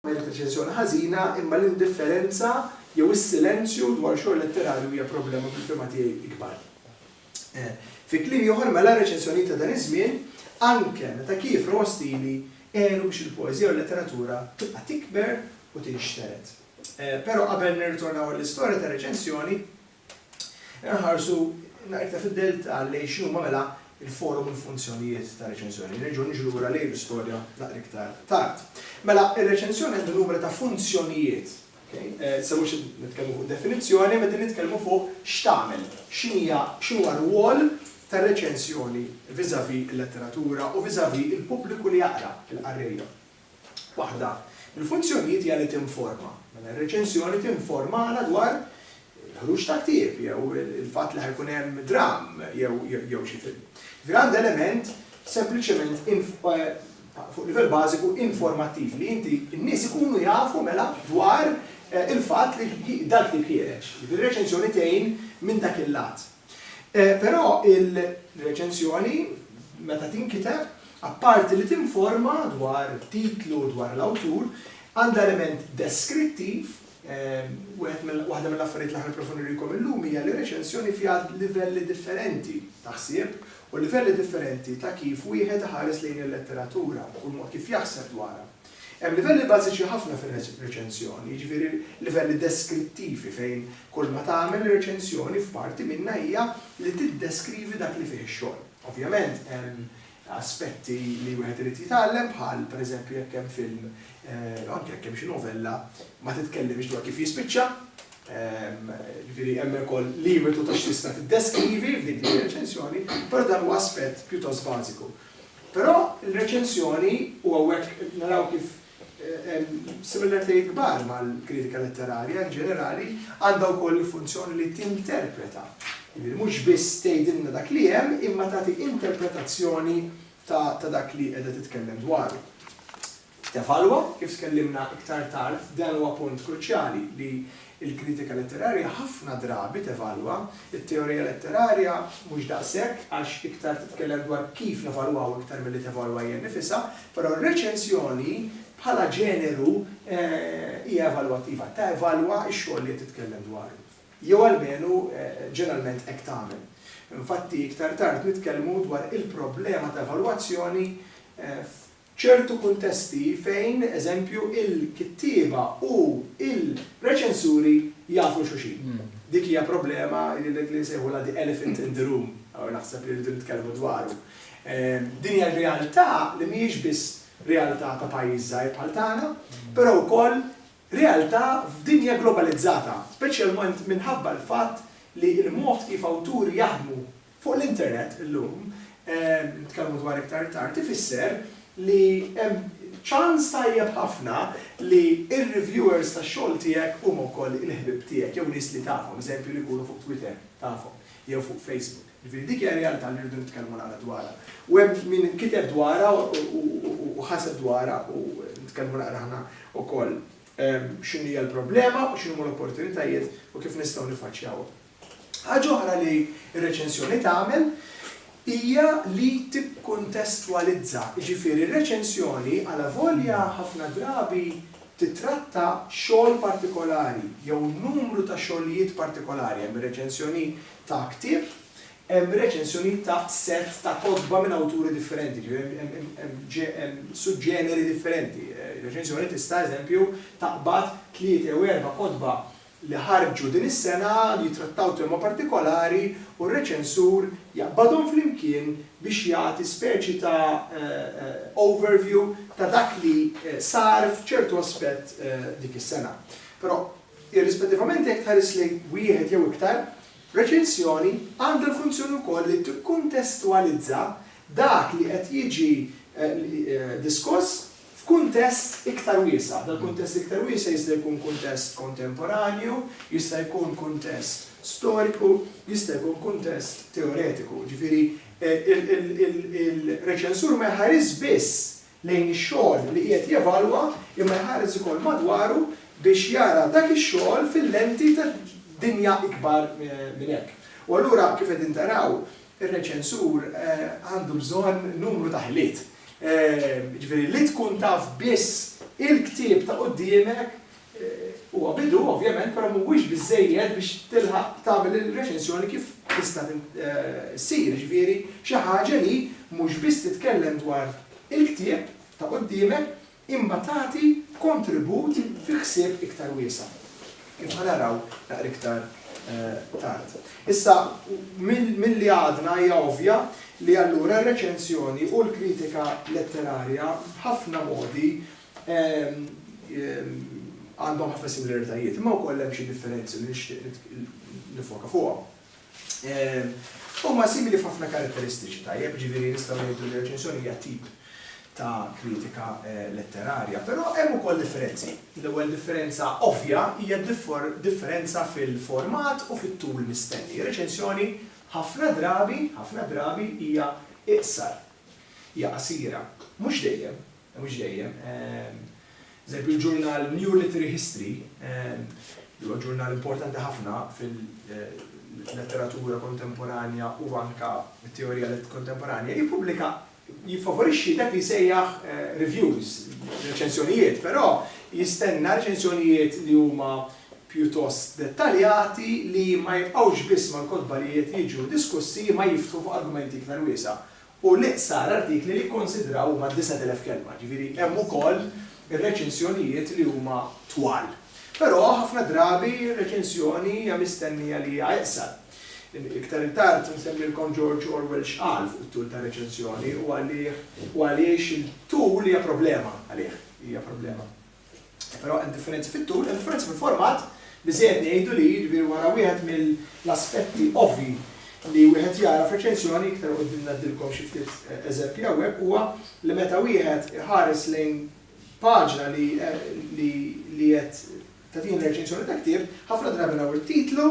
Ma jekk reċensjoni ħażina, imma l-indifferenza jew is-silenzju dwar xogħol letterarju hija problema fil-fehma tiegħi ikbar. Fi kliem ieħor mela r-reċensjonijiet ta' dan iż-żmien, anke meta kiefru ostili, għenu biex il-poeżija u l-letteratura tibqa' tikber u tinxtered. Però qabel nirritornaw għall-istorja tar-reċensjoni, Inħarsu naqra iktar fid-delta lejn x'inhuma mela l-forom u l-funzjonijiet ta' reċensjoni. Nerġgħu niġu lura lejn l-istorja naqra iktar tard. Mela, ir-reċensjoni għandha numru ta' funzjonijiet. Issa mhux qed nitkellmu fuq definizzjoni, imma qegħdin nitkellmu fuq x'tagħmel, x'inhija, x'inhu r-rwol tar-reċensjoni vis-à-vis il-letteratura u vis-à-vis il-pubbliku li jaqra, il-qarrejja. Waħda mill-funzjonijiet hija li tinforma. Mela r-reċensjoni tinformana dwar il-ħruġ ta' ktieb jew il-fatt li ħa jkun hemm dramm jew xi film. Grand element sempliċement fuq livell bażiku informattiv li inti n-nies ikunu jafu mela dwar il-fatt li dal-ktieb ħiereġ. Jiġifieri r-reċensjoni tgħin minn dak il-lat. Però il-reċensjoni, meta tinkiteb, apparti li tinforma dwar it-titlu u dwar l-awtur, għandha element deskrittiv, waħda mill-affarijiet li aħna nipprovaw nurikom illum hija li reċensjoni fiha livelli differenti ta' ħsieb u livelli differenti ta' kif wieħed iħares lejn il-letteratura u l-mod kif jaħseb dwarha. Hemm livelli bażiċi ħafna fir-reċensjoni, jiġifieri livelli deskrittivi fejn kull ma tagħmel ir-reċensjoni f'parti minnha hija li tiddeskrivi dak li fih ix-xogħol. Ovvjament hemm aspetti li wieħed irid jitgħallem bħal pereżempju jekk hemm film, anke jekk hemm xi novella, ma titkellimx dwar kif jispiċċa, jiġifieri hemm ukoll limitu ta' x'tista' tiddeskrivi f'dik ir-reċensjoni, però dan huwa aspett pjuttost bażiku. Però l-reċensjoni, u hawnhekk naraw kif hemm similaritajiet kbar mal-kritika letterarja in ġenerali, għandha wkoll il-funzjoni li tinterpreta. Jiġifieri mhux biss tgħidilna dak li hemm imma tagħti interpretazzjoni ta' dak li qiegħda titkellem dwaru. Tevalwa, kif tkellimna iktar tard, dan huwa punt kruċjali li l-kritika letterarja ħafna drabi tevalwa, it-teorija letterarja mhux daqshekk għax iktar titkellem dwar kif nevalwaw iktar milli tevalwa hija nnifisha, però r-reċensjoni bħala ġeneru hija evalwattiva, tevalwa x-xogħol li qed titkellem dwaru. Jew almenu ġeneralment hekk tagħmel. Infatti iktar tard nitkellmu dwar il-problema ta' evalwazzjoni ċertu kuntesti fejn, eżempju, il-kittieba u l-reċensuri jafu xulxin. Dik hija problema li nsejħulha the elephant in the room, u naħseb li rridu nitkellmu dwaru. Din hija realtà li mhijiex biss realtà ta' pajjiż żgħir bħal tagħna, però wkoll realtà f'dinja globalizzata, speċjalment minħabba l-fatt li l-mod kif awturi jaħdmu Fuq l-internet illum, nitkellmu dwar iktar tard, ifisser li hemm ċans tajjeb ħafna li r-reviewers tax-xogħol tiegħek huma wkoll il-ħbieb tiegħek jew nies li tafhom, eżempju li jkunu fuq Twitter tafhom jew fuq Facebook. Jiġifieri dik hija realtà li rridu nitkellmu naqra dwarha. U hemm min kiteb dwarha u ħaseb dwarha u nitkellmu naqra aħna wkoll x'inhija l-problema u x'inhuma l-opportunitajiet u kif nistgħu niffaċċjawhom. Ħaġa oħra li r-reċensjoni tagħmel hija li tikkuntestwalizza, jiġifieri r-reċensjoni alavolja ħafna drabi tittratta xogħol partikolari jew numru ta' xogħlijiet partikolari, hemm ir-reċensjoni ta' ktieb, hemm reċensjonijiet ta' sett ta' kotba minn awturi differenti, jiġifieri hemm suġġeneri differenti. Reċensjoni tista', eżempju, taqbad tliet jew erba' kotba li ħarġu din is-sena li jittrattaw tema partikolari u r-reċensur jaqbadhom flimkien biex jagħti speċi ta' overview ta' dak li sar f'ċertu aspett dik is-sena. Però, irrispettivament jekk tħares lejn wieħed jew iktar, reċensjoni għandha l-funzjoni wkoll li tikkuntestwalizza dak li qed jiġi diskuss F'kuntest iktar wiesa', dal-kuntest iktar wiesa' jista' jkun kuntest kontemporanju, jista' jkun kuntest storiku, jista' jkun kuntest teoretiku. Jiġifieri, il-reċensur ma jħarisx biss lejn ix-xogħol li qiegħed jevalwa imma jħares ukoll madwaru biex jara dak ix-xogħol fil-lenti ta' dinja ikbar minn hekk. U allura, kif qegħdin taraw, Ir-reċensur għandu bżonn numru ta' ħiliet. Jiġifieri li tkun taf biss il-ktieb ta' quddiemek huwa bidu ovvjament, però mhuwiex biżżejjed biex tilħaq tagħmel ir-reċensjoni kif tista' ssir, jiġifieri xi ħaġa li mhux biss titkellem dwar il-ktieb ta' quddiemek, imma tagħti kontribut fi ħsieb iktar wiesa', kif ħa naraw naqra iktar tard. Issa, milli għadna hija ovvja li allura r-reċensjoni u l-kritika letterarja b'ħafna modi għandhom ħafna similaritajiet, imma wkoll hemm xi differenzi li nixtieq niffoka fuqhom. Huma simili f'ħafna karatteristiċi tajjeb, ġifieri nistgħu ngħidu li reċensjoni hija tip ta' kritika letterarja, però hemm ukoll differenzi. L-ewwel differenza ovvja hija differenza fil-format u fit-tul mistenni. Reċensjoni ħafna drabi, ħafna drabi hija iqsar, hija qasira, mhux dejjem, Mhux dejjem. Eżempju, il-ġurnal New Literary History, li huwa ġurnal importanti ħafna fil-letteratura kontemporanja u anke t-teorija kontemporanja, jippubblika, jiffavorixxi dak li jsejjaħ reviews, reċensjonijiet, però jistenna reċensjonijiet li huma pjuttost dettaljati li ma jibqgħux biss mal-kotba li qed jiġu diskussi imma jiftħu fuq argumenti iktar wiesgħa. u l-iqsar artikli li jikkonsidraw huma d-disat elef kelma, jiġifieri hemm ukoll ir-reċensjonijiet li huma twal. Però ħafna drabi r-reċensjoni hija mistennija li hija iqsar. Iktar 'il tard se nsemmilkom George Orwell x'qal fuq it-tul ta' reċensjoni u għalih u għaliex il-tul hija problema għalih, hija problema. Però hemm differenzi fit-tul, hemm differenzi fil-format, biżejjed ngħidu li jiġifieri wara wieħed mill-aspetti ovvji li wieħed jara f'reċensjoni, iktar 'il quddiem ngħaddilkom xi ftit eżempji hawnhekk, huwa li meta wieħed iħares lejn paġna li li qed tagħtina reċensjoni ta' ktieb, ħafna drabi naraw it-titlu,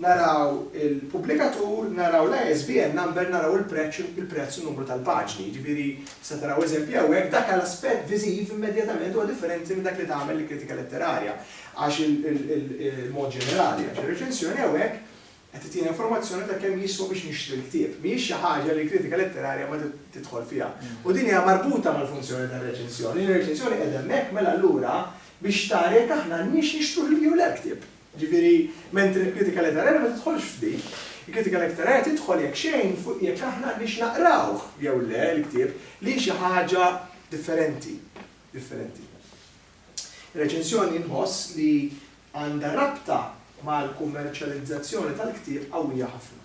Naraw il-pubblikatur, naraw l-ISBN number, naraw il-preċċ, il-prezz u n-numru tal-paġni. Jiġifieri, tista' taraw eżempji hawnhekk, dak għal aspett viżiv immedjatament huwa differenti minn dak li tagħmel il-kritika letterarja għax il-mod ġenerali, għax ir-reċensjoni hawnhekk qed ttina informazzjoni ta' kemm jiswa biex nixtri l-ktieb. Mhijiex xi ħaġa li l-kritika letterarja ma tidħol fiha. U din hija marbuta mal-funzjoni tar-reċensjoni. Ir-reċensjoni qiegħda hemmhekk mela allura biex tara jekk aħna għandniex nixtruh jew le l-ktieb. Jiġifieri, mentri l-kritika letterarja ma tidħolx f'din. Il-kritika letterarja tidħol jekk xejn fuq jekk aħna għandniex naqrawh jew le l-ktieb li hi xi ħaġa differenti, differenti. Ir-reċensjoni nħoss li għandha rabta mal-kummerċjalizzazzjoni tal-ktieb qawwija ħafna.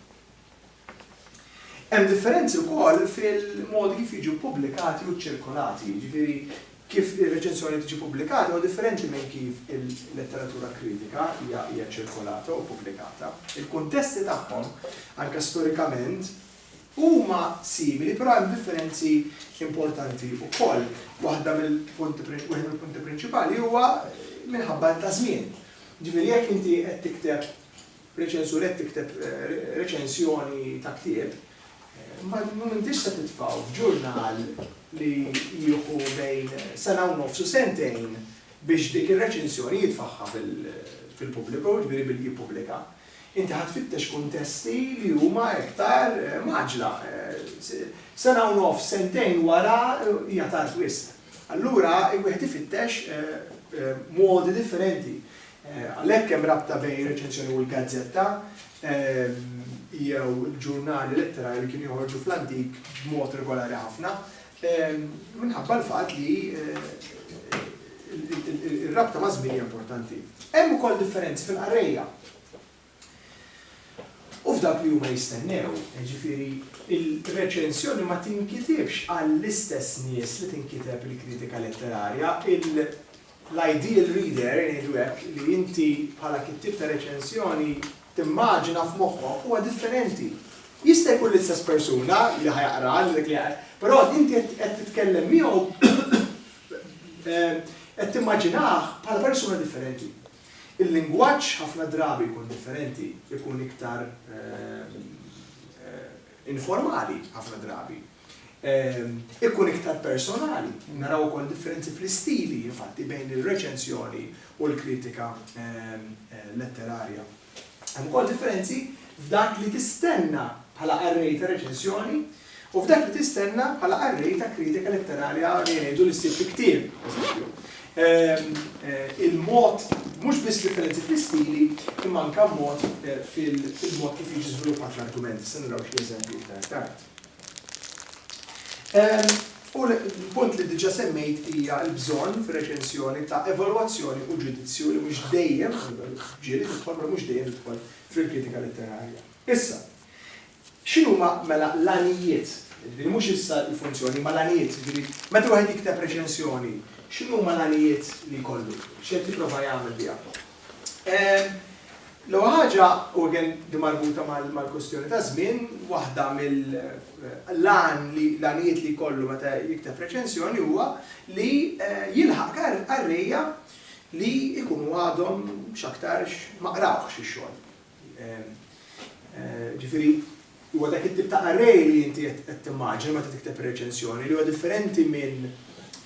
Hemm differenzi wkoll fil-modi kif jiġu ppubblikati u ċċirkolati, jiġifieri kif ir-reċensjoni tiġi ppubblikata huwa differenti minn kif il-letteratura kritika hija hija ċċirkolata u ppubblikata. Il-kuntesti tagħhom, anke storikament, huma simili però hemm differenzi importanti wkoll. Waħda mill-punti prin wieħed mill-punti prinċipali huwa minħabba ta' żmien. Jiġifieri jekk inti qed tikteb Reċensur Qed tikteb reċensjoni ta' ktieb, ma intix se titfgħu f'ġurnal li jieħu bejn sena u nofs u sentejn biex dik ir-reċensjoni jitfagħha fil-pubbliku, jiġifieri billi jippubblika. Inti ħa tfittex kuntesti li huma iktar mgħaġġla. Sena u nofs, sentejn wara hija tard wisq. Allura wieħed ifittex modi differenti. Għalhekk hemm rabta bejn ir-reċensjoni u l-gazzetta jew il-ġurnali letterarji li kienu joħorġu fl-antik b'mod regolari ħafna minħabba l-fatt li r-rabta maż-żmien hija importanti. Hemm ukoll differenzi fil-qarrejja. u f'dak li huma jistennew, jiġifieri r-reċensjoni ma tinkitibx għall-istess nies li tinkiteb il-kritika letterarja, l-ideal reader, ngħidu hekk, li inti bħala kittieb ta' reċensjoni timmaġina f'moħħok huwa differenti. Jista' jkun l-istess persuna li ħa jaqra, però inti qed titkellem miegħu, qed timmaġinah bħala persuna differenti. Il-lingwaġġ ħafna drabi jkun differenti, ikun iktar informali ħafna drabi, ikun iktar personali. Naraw ukoll differenzi fl-istili, infatti, bejn ir-reċensjoni u l-kritika letterarja. Hemm ukoll differenzi f'dak li tistenna bħala qarrej ta' reċensjoni U f'dak li tistenna bħala qarrej ta' kritika letterarja li jgħidu li ssir fi ktieb, eżempju. Il-mod mhux biss differenzi fl-istili, imma anke mod fil-mod kif jiġi żviluppat l-argument. Se naraw xi eżempji iktar tard. U l-punt li diġà semmejt hija l-bżonn fir-reċensjoni ta' evalwazzjoni u ġudizzju li mhux dejjem, ġieli tidħol, mhux dejjem tidħol fil-kritika letterarja. Issa, X'inhuma mela l-għanijiet, jiġifieri mhux issa l-funzjoni imma l-għanijiet, jiġifieri meta wieħed jikteb reċensjoni x'inhuma l-għanijiet li jkollu, x'qed jipprova jagħmel biha? L-ewwel ħaġa, u again din marbuta mal-kwistjoni taż-żmien, waħda mill-għan li l-għanijiet li jkollu meta jikteb reċensjoni huwa li jilħaq qarrejja li jkunu għadhom x'aktarx ma qrawhx ix-xogħol. Ġifieri, huwa dak it-tip ta' array li inti qed timmaġina meta tikteb reċensjoni li huwa differenti minn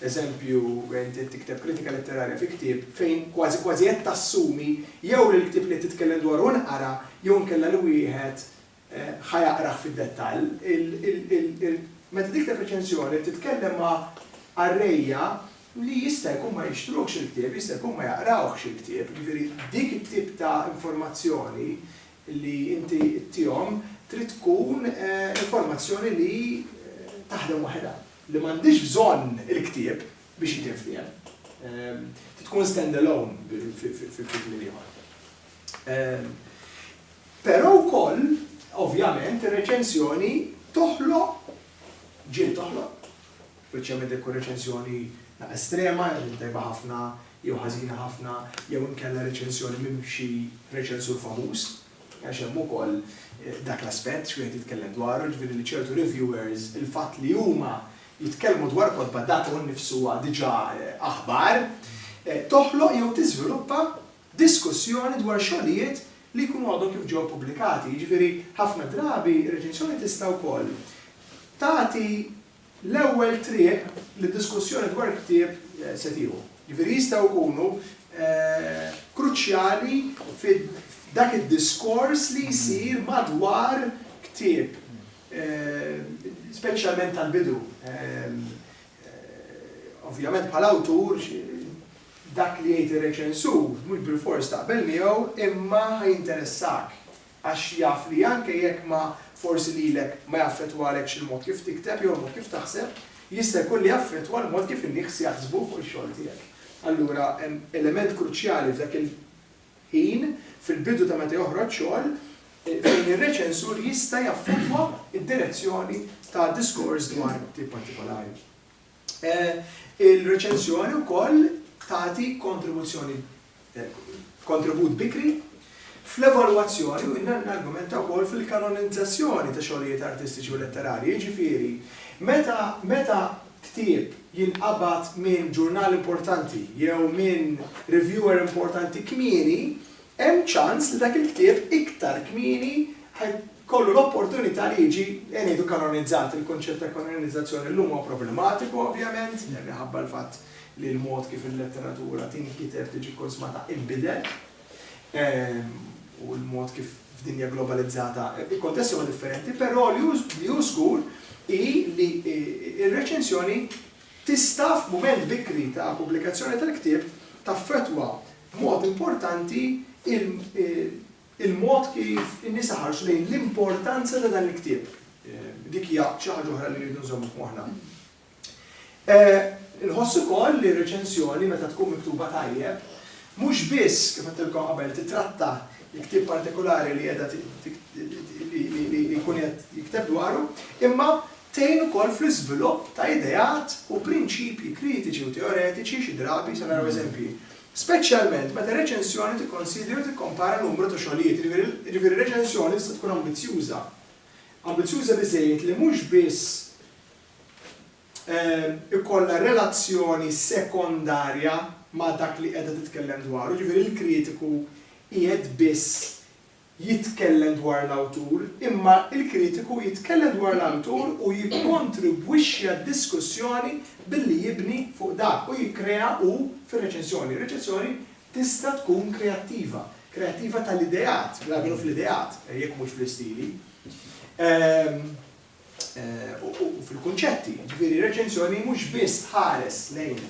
eżempju inti qed tikteb kritika letterarja fi ktieb fejn kważi kważi qed tassumi jew li l-ktieb li qed titkellem dwaru nqara jew inkella li wieħed ħa jaqrah fid-dettall. Meta tikteb reċensjoni qed titkellem ma' arrayja li jista' jkun ma jixtruhx il-ktieb, jista' jkun ma jaqrawhx il-ktieb, jiġifieri dik it-tip ta' informazzjoni li inti ttihom trid tkun informazzjoni li taħdem waħedha, li m'għandhiex bżonn il-ktieb biex hi tinftiehem, trid tkun stand alone fil-kliem ieħor. Però wkoll, ovvjament, ir-reċensjoni toħloq, ġiet toħloq, Speċjalment jekk tkun reċensjoni ta' estrema, jew tajba ħafna jew ħażina ħafna, jew inkella reċensjoni minn xi reċensur famuż, għax hemm ukoll dak l-aspett x'wieħed jitkellem dwaru, jiġifieri li ċertu reviewers il-fatt li huma jitkellmu dwar kotba dak hu nnifsu huwa diġà aħbar, toħloq jew tiżviluppa diskussjoni dwar xogħlijiet li jkunu għadhom kif ġew ppubblikati. Jiġifieri ħafna drabi reċensjoni tista' wkoll tagħti L-ewwel triq li diskussjoni dwar ktieb se tieħu. Jiġifieri jistgħu jkunu kruċjali f'dak id-diskors li jsir madwar ktieb, speċjalment tal-bidu. Ovvjament bħala awtur dak li jgħid ir-reċensur mhux bilfors taqbel miegħu imma ħa jinteressak. għax jaf li anke jekk ma forsi lilek ma jaffettwalekx il-mod kif tikteb jew il-mod kif taħseb, jista' jkun li jaffettwa l-mod kif in-nies jaħsbu fuq ix-xogħol tiegħek. Allura hemm element kruċjali f'dak il-ħin, fil-bidu ta' meta joħroġ xogħol, fejn ir-reċensur jista' jaffettwa d-direzzjoni ta' diskors dwar ktieb partikolari. Il-reċensjoni wkoll tagħti kontribuzzjoni kontribut bikri fl-evalwazzjoni u n-argumenta wkoll fil-kanonizzazzjoni ta' xogħlijiet artistiċi u letterarji, jiġifieri meta meta ktieb jinqabad minn ġurnal importanti jew minn reviewer importanti kmieni, Hemm ċans li dak il-ktieb iktar kmieni ħa jkollu l-opportunità li jiġi, ejja ngħidu, kanonizzat. Il-kunċett ta' kanonizzazzjoni llum huwa problematiku ovvjament, minħabba l-fatt li l-mod kif il-letteratura tinkiteb, tiġi kkunsmata inbidel, u l-mod kif f'dinja globalizzata l-kuntesti huma differenti, però li hu żgur hi li r-reċensjoni tista' f'mument bikri ta' pubblikazzjoni tal-ktieb taffettwa b'mod importanti il-mod kif in-nisa ħarsu lejn l-importanza ta' dan il-ktieb. Dik hija xi ħaġa oħra li rridu nżommu f'moħħna. Inħoss ukoll li r-reċensjoni meta tkun miktuba tajjeb, mhux biss, kif għedtilkom qabel, titratta l-ktieb partikolari li qiegħda li jkun qed jikteb dwaru, imma Tgħin ukoll fl-iżvilupp ta' ideat u prinċipji kritiċi u teoretiċi, xi drabi se naraw eżempji, speċjalment meta r-reċensjoni tikkonsidri u tikkompara numru ta' xogħlijiet, jiġifieri r-reċensjoni tista' tkun ambizzjuża, ambizzjuża biżżejjed li mhux biss ikollha relazzjoni sekondarja ma' dak li qiegħda titkellem dwaru, jiġifieri l-kritiku qiegħed biss jitkellem dwar l-awtur, imma l-kritiku jitkellem dwar l-awtur u jikkontribwixxi għad-diskussjoni billi jibni fuq dak u jikkrea hu fir-reċensjoni. Ir-reċensjoni tista' tkun kreattiva, kreattiva tal-ideat, bl-almenu fl-ideat, jekk mhux fl-istili. u fil-kunċetti. Ġifieri reċenzjoni mhux biss tħares lejn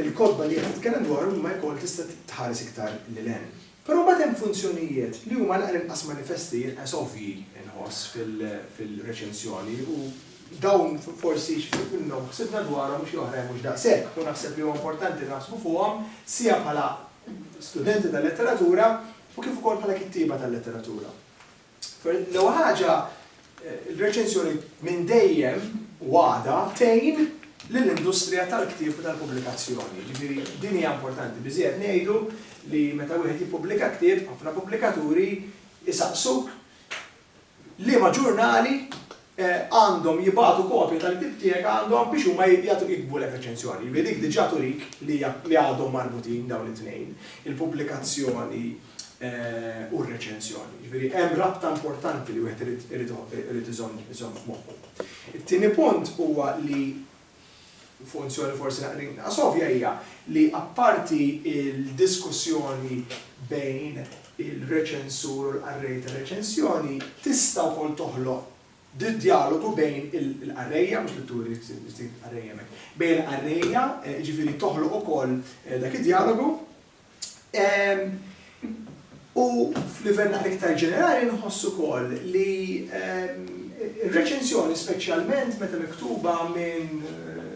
il-kotba li qed titkellem dwar imma jkoll tista' tħares iktar lil hemm. Però mbagħad hemm funzjonijiet li huma l inqas manifesti inqas ovvji nħoss fil-reċenzjoni u dawn forsi x'ftit minnhom ħsibna dwarhom u xi oħrajn mhux daqshekk u naħseb li huwa importanti naħsbu fuqhom sija bħala studenti tal-letteratura u kif ukoll bħala kittieba tal-letteratura. L-ewwel ħaġa, il-reċenzjoni minn dejjem u għadha tgħin lill-industrija tal-ktieb u tal-pubblikazzjoni. Ġifieri din hija importanti biżżejjed ngħidu li meta wieħed jippubblika ktieb, ħafna pubblikaturi jsaqsuk liema ġurnali għandhom jibagħtu kopja tal-ktieb tiegħek għandhom biex huma jagħtuk jiktbu lek reċenzjoni. Jiġifieri dik diġà turik li għadhom marbutin dawn it-tnejn, il-pubblikazzjoni u r-reċenzjoni. Jiġifieri hemm rabta importanti li wieħed irid iżomm f'moħħu. It-tieni punt huwa li Funzjoni forsi naqra inqas ovvja hija li apparti l-diskussjoni bejn ir-reċensur u l-qarrej tar-reċensjoni, tista' wkoll toħloq djalogu bejn il-qarrejja, mhux li turi x'tip ta' qarrejja hemmhekk, bejn il-qarrejja, jiġifieri toħloq ukoll dak id-djalogu, U f'livell naqra iktar ġenerali nħoss ukoll li r-reċensjoni speċjalment meta miktuba minn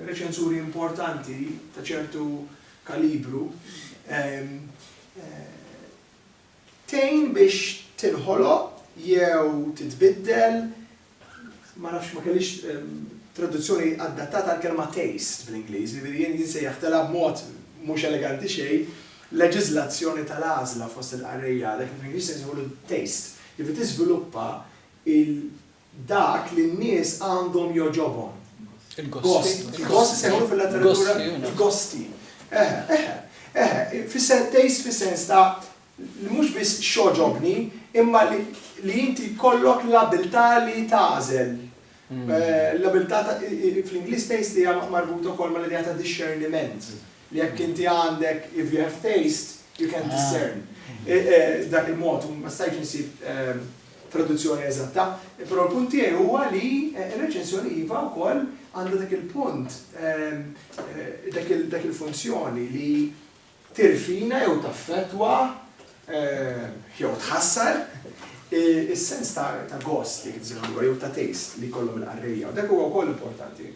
reċensuri importanti ta' ċertu kalibru tgħin biex tinħoloq jew titbiddel Ma nafx, ma kellix traduzzjoni adattata għall-kelma taste bl-Ingliż, jiġifieri jien insejjaħtilha b'mod mhux eleganti xejn, leġiżlazzjoni tal-għażla fost il-qarrejja, dak li bl-Ingliż se nsejħulu taste, jiġifieri tiżviluppa il dak li n-nies għandhom jogħġobhom. Il-gost. Il-gost isejħulu fil-letteratura il-gosti. Eħe, eħe, eħe, taste fis-sens ta' li mhux biss x'għoġobni imma li inti jkollok l-abbiltà li tagħżel. L-abbiltà ta' fl-Ingliż taste hija marbuta wkoll mal-idea ta' dixxerniment. Li jekk inti għandek if you have taste, you can discern. Dak il-mod, ma stajtx insib traduzzjoni eżatta, però l-punt tiegħi huwa li r-reċensjoni iva wkoll għandha dak il-punt, dak il-funzjoni li, tirfina jew taffettwa jew tħassar is-sens ta' gost, jekk inti sejħillu hekk, jew ta' taste li jkollhom il-qarrejja. Dak huwa wkoll importanti.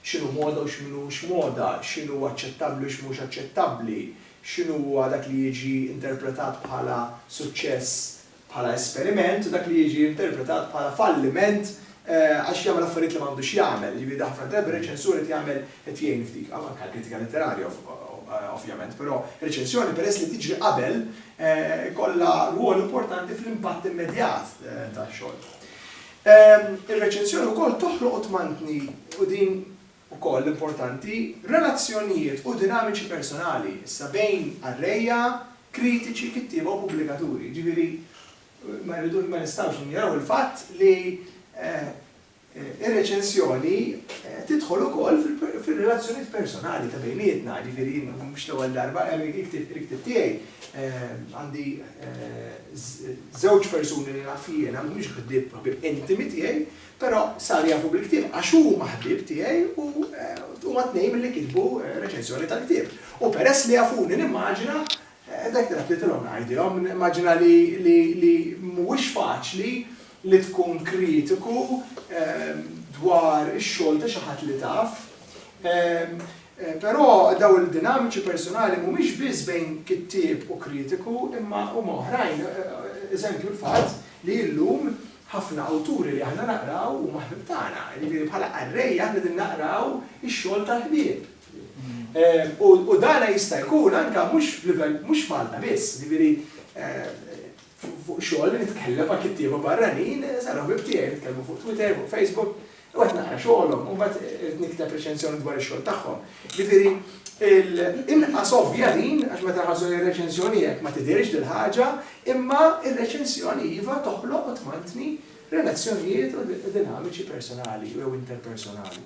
X'inhu moda u x'm'inhux moda, x'inhu aċċettabbli u x'mhux aċċettabbli, x'inhu huwa dak li jiġi interpretat bħala suċċess bħala esperiment u dak li jiġi interpretat bħala falliment għax jagħmel affarijiet li m'għandux jagħmel. Jiġifieri ħafna drabi r-reċensur qed jagħmel qed jgħin f'dik, anke għall-kritika letterarja ovvjament, però r-reċensjoni peress li tiġri qabel ikollha rwol importanti fl-impatt immedjat tax-xogħol. Ir-reċensjoni wkoll toħloq u tmantni u din Ukoll importanti, relazzjonijiet u dinamiċi personali, issa, bejn qarrejja, kritiċi, kittieba u pubblikaturi. Jiġifieri, ma rridux, ma nistgħux ninjoraw il-fatt li r-reċensjoni tidħol ukoll fir-relazzjonijiet personali ta' bejnietna. Jiġifieri, jien mhux l-ewwel darba, il-ktieb tiegħi għandi żewġ persuni li naf jiena, mhumiex ħbieb intimi tiegħi, Però saru jafu bil-ktieb għax huma ħbieb tiegħi u huma t-tnejn milli kitbu reċensjoni tal-ktieb. U peress li jafuni nimmaġina dak li tlabtilhom ngħidilhom, nimmaġina li mhuwiex faċli li tkun kritiku dwar ix-xogħol ta' xi ħadd li taf. Però dawn il-dinamiċi persunali mhumiex biss bejn kittieb u kritiku imma huma oħrajn, eżempju l-fatt li llum Ħafna awturi li aħna naqraw huma ħbieb tagħna, jiġifieri bħala qarrejja aħna qegħdin naqraw ix-xogħol tal-ħbieb. U dan jista' jkun anke mhux f'livell, mhux f'Malta biss, jiġifieri fuq xogħol nitkellem ma' kittieba barranin, saru ħbieb tiegħi, nitkellmu fuq Twitter, fuq Facebook, U qed naqra xogħolhom, u mbagħad irid nikteb reċensjoni dwar ix-xogħol tagħhom. Ġifieri, inqas ovvja din, għax meta nħarsu lejn reċensjoni hekk ma tidhirx din ħaġa, imma r-reċensjoni iva toħloq u tmantni relazzjonijiet u dinamiċi personali jew interpersonali.